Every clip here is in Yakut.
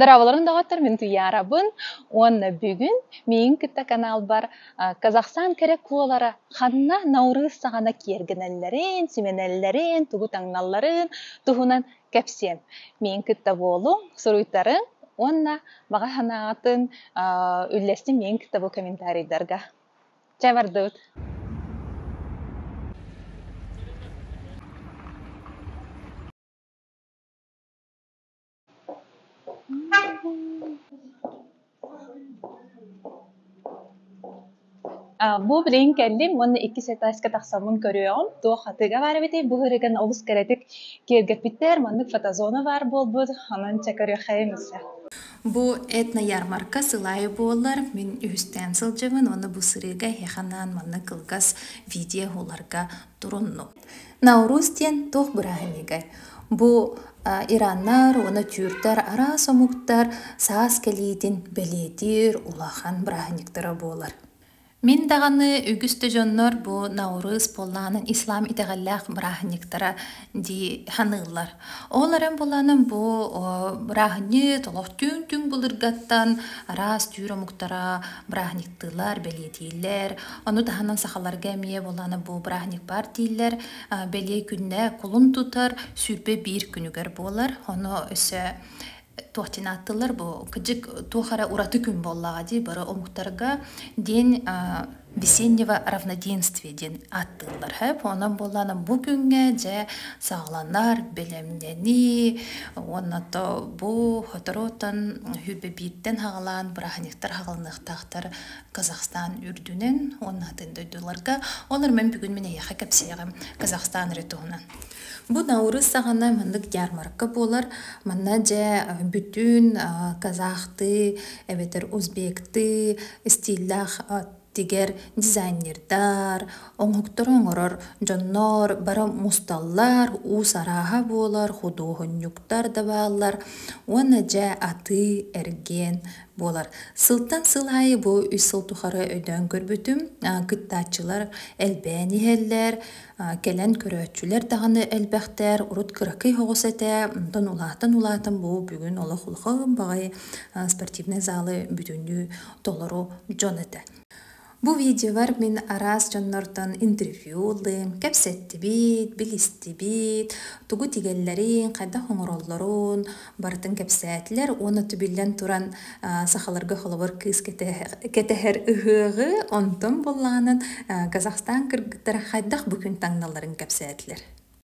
Дорооболоруҥ доҕоттор, мин Туйаарабын уонна бүгүн миигин кытта каналбар Казахстан кэрэ куолара ханна наурыз саҕана киэргэнэллэрин, симэнэллэрин, тугу таҥналларын туһунан кэпсиэм. Миигин кытта буолуҥ, суруйтарыҥ уонна баҕа санаҕытын үллэстиҥ миигин кытта бу комментарийдарга. Чэ, бардыбыт Бу билигин кэллим уонна иккис этажка тахсаммын көрүөҕүм. Туох атыыга баар эбитэй? Бу ырыган олус кыратык киэргэппиттэр. Маннык фотозона баар буолбут. Онон чэ көрүөххэйим өссө. Бу этно-ярмарка сыл аайы буолар. Мин үһүстээн сылдьабын уонна бу сырыыга эһиэхэ анаан манна кылгас видео уһуларга туруннум. Наурус диэн туох бырааһынньыгай? Бу ираннар уонна түүрдэр араас омуктар саас кэлиитин бэлиэтиир улахан бырааһынньыктара буолар. Мин даҕаны үгүс да дьоннор бу Наурыз буоллаҕынан ислам итэҕэллээх бырааһынньыктара дии саныыллар. Ол эрэн буоллаҕынан бу бырааһынньык олох түүн-түүн былыргаттан араас түүр омуктара бырааһынньыктара кыттыылар, бэлиэтииллэр. Ону таһынан сахаларга эмиэ буоллаана бу бырааһынньык баар дииллэр. Бэлиэ күннэ кулун тутар сүүрбэ биир күнүгэр буолар. Ону өссө туохтан ааттыллар бу кыдьык туох эрэ ураты күн буоллаҕа дии бары омуктарга день весеннего равноденствия диэн ааттыыллар хеп онон буоллаана бу күҥҥэ дьэ саҕаланар бэлэмнэнии уонна то бу хоторуттан хүрбэ бииртэн хагалаан бырааһынньыктар хагалыныахтара тахтар Казахстан үрдүнэн уонна атын дойдуларга. Олар мен бүгүн мен эйэхэ кепсиэҕим Казахстан ыры туһунан. Бу наурыз сағана маннык ярмарка болар. Манна же бүтүн казахты, эбэтэр узбекты стиллах тигер дизайнердар, оңоктор оңорор дьоннор бара мусталлар, уус арааһа буолар, худуоһунньуктар да бааллар. Уонна же аты, эрген буолар. Сылтан сыл аайы бу үс сыл тухары өйдөөн көрбүтүм, кыттааччылар элбээн иһэллэр, кэлэн көрөөччүлэр даҕаны элбэхтэр, урут кыракый оҕус этэ, онтон улаатан-улаатан бу бүгүн олох улахан баҕайы спортивнай залы бүтүннүү толору дьон этэ. Бу видеолар мин араас дьоннортон интервью ыллым, кэпсэттибит, билистибит, тугу тигэллэрин, хайдах оҥороллорун барытын кэпсээтилэр уонна түбүллэн туран сахаларга холобур кыыс кэтэһэр ыһыаҕы, онтон буоллаҕынан Казахстан кыргыттара хайдах бу күн таҥналларын кэпсээтилэр.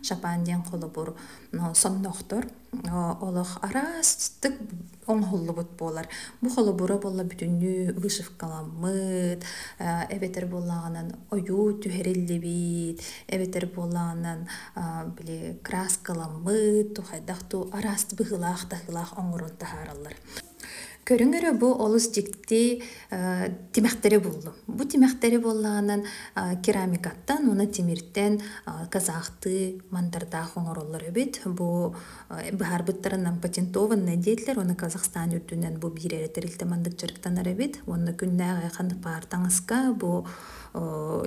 Шапан диэн холобур сондохтор олох араастык оҥоһуллубут буолар. Бу холобура буолла бүтүннүү вышивкаламмыт, эбэтэр буоллаҕынан ойуу түһэриллибит, эбэтэр буоллаҕынан били краскаламмыт, хайдах туу араас быһыылаах таһыылаах оҥорон таһаараллар. Көрүҥ эрэ бу олус дьикти тимэхтэри буллум. Бу тимэхтэри буоллаҕынан керамикаттан уонна тимиртэн казахтыы мандардаах оҥороллор эбит. Бу быһаарбыттарынан патентованное диэтилэр уонна Казахстан үрдүнэн бу биир эрэ тэрилтэ мандык дьарыктанар эбит. Уонна күннээх ханнык баар таҥаска бу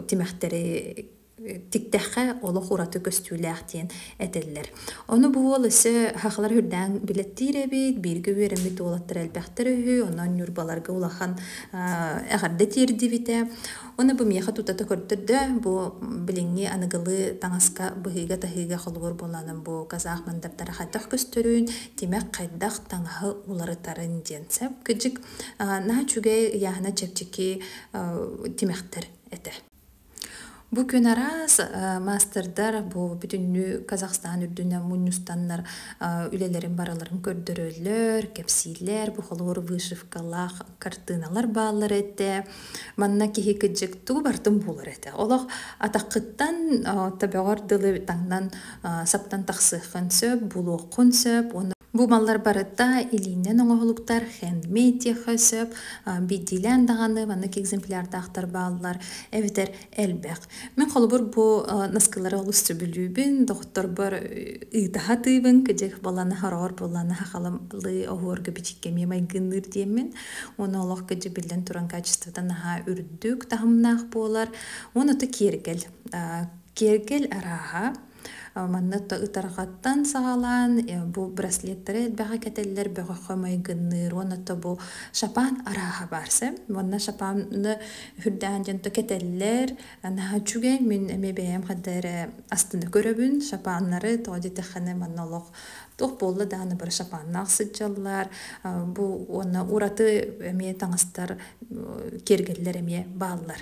тимэхтэри Тиктэххэ олох ураты көстүүлээх диэн этэллэр. Ону бу уол өссө хахалар үрдээн билэттиир эбит, бииргэ үөрэммит уолаттара элбэхтэрэ үһү, онон Ньурбаларга улахан аа эҕэрдэ тиэрдибитэ. Ону бу миэхэ тутата көрдөрдө, бу билиҥҥи аныгылыы таҥаска быһыыга-таһыыга холобур буолаанын бу казах мандаттара хайдах көстөрүн, тимэх хайдах таҥаһы уларытарын диэн сөп. Кыдьык аа наһаа үчүгэй, ыйааһына чэпчэки аа тимэхтэр этэ. Бу күн араас маастардар бу бүтүннүү Казахстан үрдүнэн мунньустаннар үлэлэрин барыларын көрдөрөллөр, кэпсииллэр, бухолуур вышивкалаах картыыналар бааллар этэ. Манна киһи кыдьыктуу бартын буолар этэ. Олох атаххыттан төбөҕөр дылы таҥнан саптан тахсыаххын сөп, булуоххун сөп уонна Бу маллар барыта илииннэн оҥоһулуктар, handmade диэххэ сөп. Бийдиилээн даҕаны маннык экземплярдаахтар бааллар эбэтэр элбэх. Мин холобур бу наскылары олус сөбүлүүбүн, доҕотторбор ыытаһа атыыбын, кыдьык буолланы хороҕор буолланы хахалалыы оһуорга бичиккэмиэ майгынныыр диэммин. Уонна олох кыдьык биллэн туран качествота наһаа үрдүк, таһымнаах буолар. Уонна ото киэргэл. Киэргэл арааһа Манна ытарҕаттан саҕалаан бу браслеттары элбэҕи кэтэллэр бөҕөххө майгынныыр уонна то бу шапан арааһа баар сэм уонна шапаны үрдээн дьон то кэтэллэр наһаа үчүгэй мин эмиэ бэйэм ханна эрэ астына көрөбүн шапаннары тоҕо диэтэххинэ манна олох туох буолла даҕаны бары шапаннаах сылдьаллар бу уонна ураты эмиэ таҥастар киэргэллэр эмиэ бааллар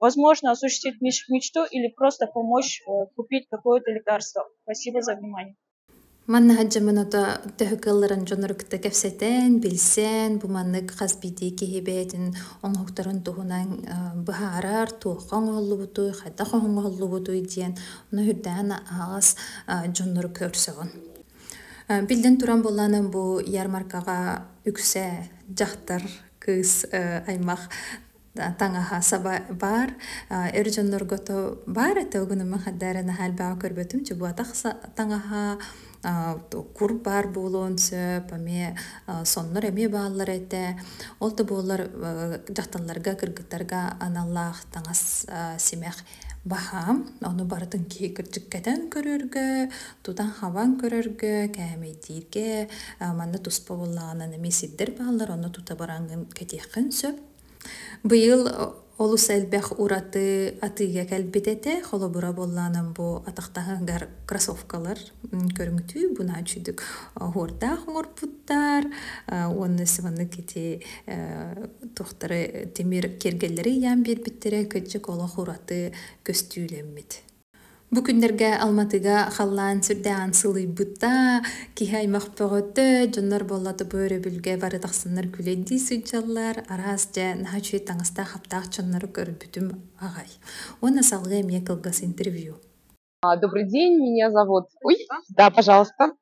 Возможно, осуществить мечту или просто помочь купить какое-то лекарство. Спасибо за внимание. Манна хадьамыната төһө кылларын дьонор кытта кэпсэтэн, билсэн, бу маннык хас битии киһи бэйэтин оҥоһуктарын туһунан быһаарар, туохха оҥоһуллубутуй, хайдах оҥоһуллубутуй диэн ну үрдээн аҕас дьоннор көрсөҕүн. Биллин туран булланым бу ярмаркаға үксэ дьахтар кыыс аймақ таҥаһа саба баар эр дьоннорго то баар этэ угунума хаддары наһальбаҕа көрбөтүм чубуатах таҥаһа кур баар буолуон сөп эмиэ соннор эмиэ бааллар этэ ол да буоллар дьахталларга кыргыттарга аналлаах таҥас симэх баһаам ону барытын киһи кырдьык кэтэн көрөргө тутан хабан көрөргө кээмэйдииргэ манна туспа буоллаҕына эмиэ сирдэр бааллар ону тута бараҥҥын кэтиэххин сөп Быйыл олус элбэх ураты атыыга кэлбит этэ. Холобура буолланым бу атахтаһыгар кроссовкалар көрүҥтүү бунаа үчүдүк оһуордаах оҥорпуттар уонна сыманнык ити туохтары тимир киэргэллэри ыйаан биэрбиттэрэ кырдьык олох ураты көстүүлэммит. Бу күннэргэ Алматыга халлаан сүрдээҕин сылыйбыта, киһи аймах бөҕөтө, дьоннор буоллата бу өрөбүлгэ бары тахсаннар күлэй дии сылдьаллар. Араас дьэ наһаа үчүгэй таҥастаах-хаптаах дьоннору көрбүтүм аҕай. Уонна салгыы эмиэ кылгас интервью. А, Добрый день, меня зовут... Ой, да, пожалуйста.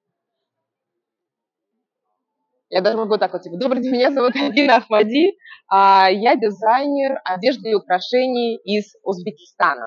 Я даже могу так вот, типа, добрый день, меня зовут Алина Ахмади, а, я дизайнер одежды и украшений из Узбекистана.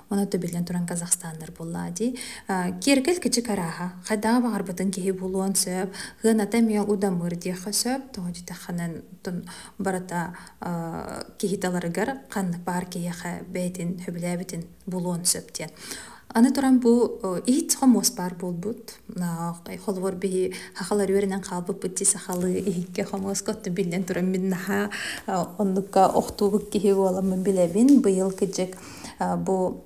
Оны төбүлэн туран казахстандар буллаа дии. Киэркэл кичи карааха. Хайдаҕа баҕарбытын киһи булуон сөп. Хыаната миэл удамыр диэххэ сөп. Тоҕо дитехханан барата киһи таларыгар ханнык баар киһиэхэ бэйтин хөбүлээбитин булуон сөп диэн. Аны туран бу иһит хомуос баар буолбут. Холобур биһи хахалар үөрэнэн хаалбыппыт ти сахалы иһикке хомуоска отту биллэн туран мин наха оннукка охтуубут киһи буоламмын билэбин. Быйыл кыдьык бу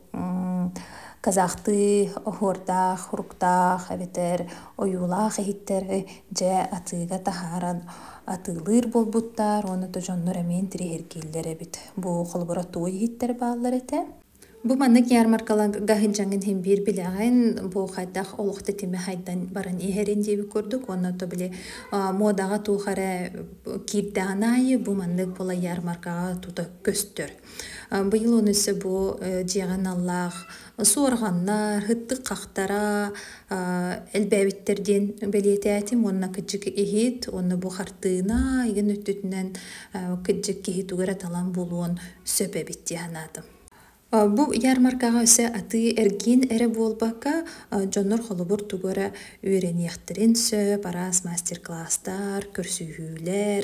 казахтыы оһуордаах, уруктаах эбэтэр ойуулаах иһиттэри дьэ атыыга таһааран атыылыыр буолбуттар уонна то дьоннор эмиэн тириһиргииллэр эбит. Бу холобура туой иһиттэр бааллар этэ. Бу маннык ярмаркаларга сынчаҥын һин биир билэҕин бу хайдах олох тэтиме хайдан баран иһэрин диэбит курдук уонна то били муодаҕа туох эрэ киирдэҕин аайы бу маннык була ярмаркаҕа тута көстөр. Быйыл өссө бу дьиэҕин аллаах суорҕаннар, хыттык хахтара элбээбиттэр диэн бэлиэтээтим уонна кыдьык иһит уонна бу хартыына игин өттүтүнэн кыдьык киһи тугу эрэ талан булуон сөп эбит дии санаатым. Бу ярмаркаҕа өссө атыы эргиин эрэ буолбакка, дьоннор холобур тугу эрэ үөрэниэхтэрин сөп, араас мастер-кластар, көрсүһүүлэр,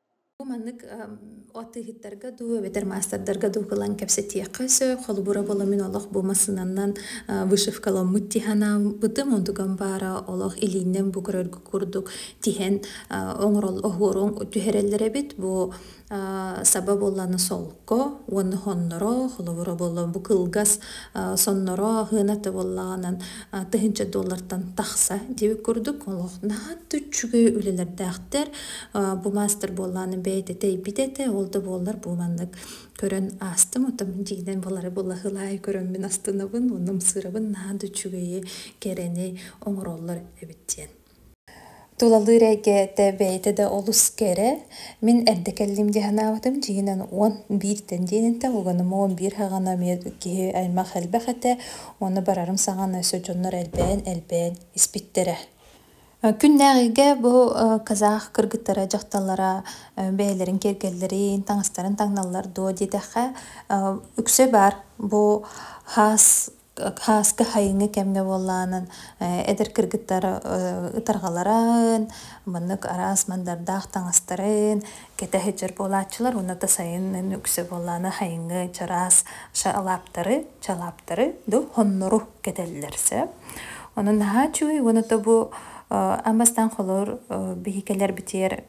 Бу маннык атыыһыттарга дуу эбэтэр маастардарга дуу кылан кэпсэтиэххэ сөп. Холобура буолан мин олох бу массыынаннан вышивкаламмыт тиһанаабытым, онтукам баара олох илииннэн бу көрөргө курдук тиһэн оҥорон түһэрэллэр эбит. Бу саба буолланы солко уонна хонноро, холобура буоллан бу кылгас сонноро аһыыната буоллаҕынан тыһыынча доллартан тахса диэбит курдук олох наһаа да үчүгэй үлэлэрдээхтэр. Бу маастар буоллааны бэйэтэ тэйбит этэ, ол да буоллар бу маннык көрөн аастым, отон дьиинэн балары булаһылаай көрөммүн астынабын, уннумсыырабын наһаа да үчүгэйи, кэрэни оҥороллор эбит диэн. Тулалыыр эйгэтэ бэйэтэ да олус кэрэ. Мин эрдэ кэллим дии санаабытым дьиэнэн уон бииртэн диэн этэ, уганым уон биир һаҕана эмиэ киһи аймах элбэх этэ, ону барарым саҕана өссө дьоннор элбээн элбээн испиттэрэ. Күннээҕигэ бу казах кыргыттара дьахталлара бэйэлэрин киэргэллэрин, таҥастарын таҥналлар дуо диэтэххэ, үксэ баар. Бу хаас хааска хайыҥы кэмҥэ буоллаҕынан эдэр кыргыттар ытарҕаларын, маннык араас мандардаах таҥастарын кэтэ сылдьар буолааччылар уонна да сайынын үксэ буоллаана хайыҥы чараас шалаптары чалаптары да хоннору кэтэллэр сэ онон наһаа чуүй уонна то бу ам бастаан холор биһикелер битиэр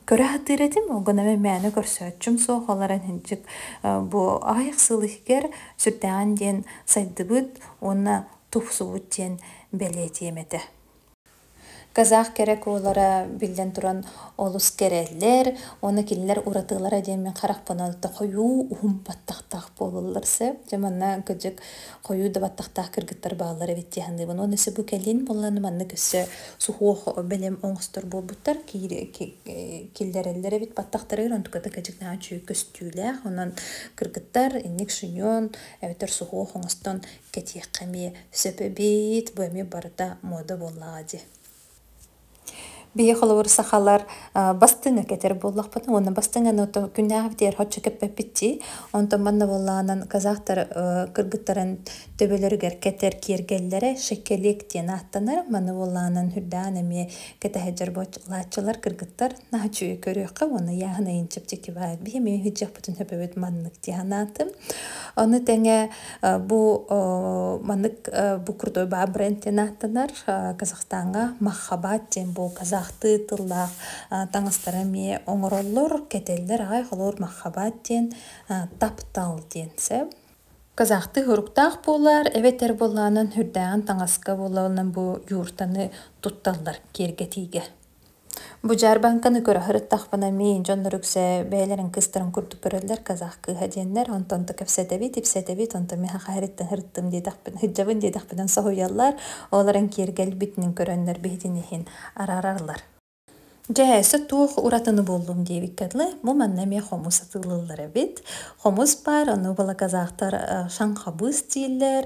көрө сатыыр этим оҕонаме мээнэ көрсөөччүм суох олорон хинчик бу аҕыйах сыл иһигэр сүрдээҕин диэн сайдыбыт уонна тупсубут диэн бэлиэтиэм этэ Казах кэрэ куолара биллэн туран олус кэрэллэр уонна кинилэр уратылара диэн мин харахпынан алта хойуу уһун баттахтаах буолаллар сөп. Дьэ манна кырдьык хойуу да баттахтаах кыргыттар бааллар эбит дии саныыбын. Уонна өссө бу кэлин буоллар маннык өссө суһуох бэлэм оҥостор буолбуттар киллэрэллэр эбит баттахтарыгар онтуката кырдьык наһаа үчүгэй көстүүлээх. Онон кыргыттар инник шиньон эбэтэр суһуох оҥостон кэтиэххэ эмиэ сөп эбит бу эмиэ барыта муода буоллаҕа дии биһи холобур сахалар бастыҥа кэтэр буоллахпытына уонна бастыҥаны ото күннээҕи битиэр оччо кэппэппит дии онтон манна буоллаҕынан казахтар кыргыттарын төбөлөрүгэр кэтэр киэргэллэрэ шекелек диэн ааттанар маны буоллаҕынан үрдээн эмиэ кэтэһэдьэр буолааччылар кыргыттар наһаччы көрүөххэ уонна яһын ыйын чэпчэки баар биһи эмиэ ыһыдьыахпытын сөпөбүт маннык дии санаатым ону тэҥэ Бу маннык бу крутой баа бренд диэн ааттанар Казахстаҥҥа Махабат диэн бу казахтыы тыллаах таҥастары эмиэ оҥороллор. Кэтэллэр аҕай холуур Махабат диэн таптал диэн сөп. Казахтыы соруктаах буолар эбэтэр буоллаанан үрдээҕин таҥаска буоллаҕына бу юртаны тутталлар киэргэтиигэ. Бу дьаарбаҥканы көрө сырыттахпына мин дьоннор үксэ бэйэлэрин кыстарын курдук көрөллөр казах кыыһа диэннэр онтон да кэпсэтэбит ипсэтэбит онтон миэхэ хаһыырыттан сырыттым диэтэхпинэ сыдьабын диэтэхпинэ соһуйаллар ол эрэн киэргэлбитинэн көрөннөр биһитин иһин араараллар дьэ өссө туох уратыны буллум диэбиккэ дылы бу манна эмиэ хомус атыылыыллар эбит хомус баар ону буола казахтар шаҥхабыыс дииллэр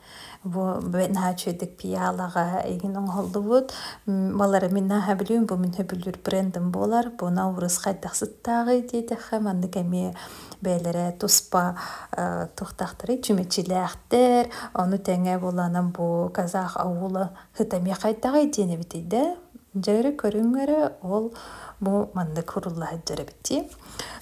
Значитик пиалаҕа игин оҥоһуллубут балары мин наһаа билүүм бу мин сөбүлүүр брендым буолар буна образ хайдах сыттааҕый диэтэххэ маннык эмиэ бэйэлэрэ туспа туохтаахтарый чүмэчилээхтэр ону тэҥэ буланан бу казах аула ыта эмиэ хайдаҕый диэн эбитий да дьэ эрэ көрүҥ эрэ ол бу маннык курулла сылдьар эбит дии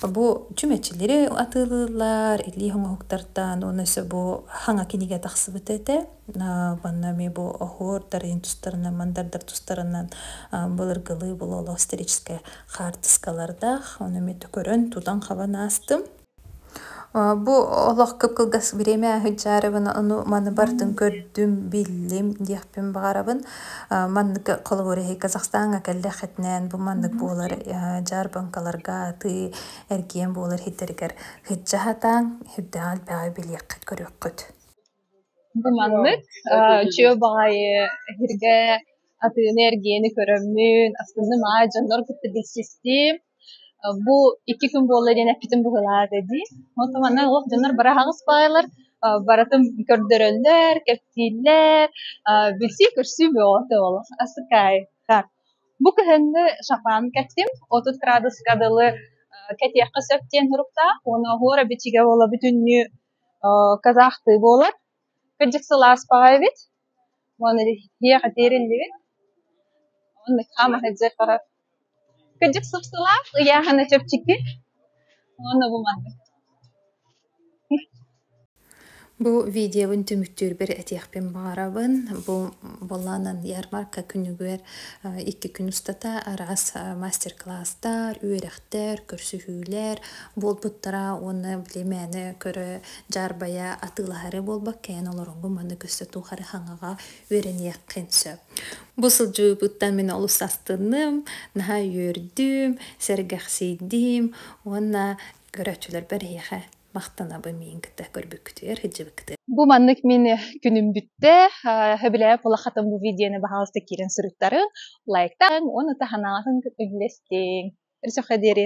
Бу чүмэчилири атыылыыллар, илии оҥоһуктартан уонна өссө бу хаҥа кинигэ тахсыбыт этэ. Манна эмиэ бу оһуор дарыйын тустарынан, мандардар тустарынан былыргылыы булуулаах историческай хаартыскалардаах. Ону эмиэ көрөн, тутан-хабан аастым. Бу олох кып-кылгас время сыдьаарыбын ону маны бартын көрдүм, биллим диэхпин баҕарабын. Маннык холобур эһи Казахстаҥҥа кэллэххитинээн бу маннык буолар дьаарбаҥкаларга атыы эргиэн буолар иһиттэригэр сыдьа сатааҥ, ирдэҕин элбэҕи билиэххит, көрүөххүт Бу маннык, үчүгэй баҕайы эһиргэ атыыны-эргиэни көрөммүн, астынным аа дьоннор кытта билсистим. Бу икки күн буолла диэн эппитим быһыылаата дии. Оттон манна олох дьоннор бары аһаҕас баайалар, барытын көрдөрөллөр, кэпсииллэр, билсии-көрсүү бөҕөтө олох асыкаай. Бу кыһыҥҥы шампан кэттим, отут градуска дылы кэтиэххэ сөп диэн туруктаах. Уонна оһуора бичигэ буола бүтүннүү казахтыы буолар кырдьык сыл ааспаҕа эбит уонна иһиэх этиэриллибит онно хаама сылдьар барар кырдьык сып-сылаас ыйааһына чэпчэки уонна бу маннык Бу видеобын түмүктүүрбэр этиэхпин баҕарабын. Бу буолаанан ярмарка күнүгэр икки күн устата араас мастер-класстар, үөрэхтэр Тэр, көрсүһүүлэр буолбуттара уонна били мээнэ көрө дьаарбайа атыылаһары буолбаккайын олорорго маннык өссө тухары хаҥаҕа үөрэниэххин сөп. Бу сылдьыбыттан мин олус астынным, наһаа үөрдүм, сэргэхсийдим уонна көрөөччүлэрбэр эһиэхэ махтанабын миин кытта көрбүккүтүгэр сылдьыбыккытыгар бу маннык мин күнүм бүтте хөбүлэһэ пулахатын бу видеоны баһаалыста киирэн суруттарын лайктан уонна таһанаатын үллэстиҥ өрсөхө диэри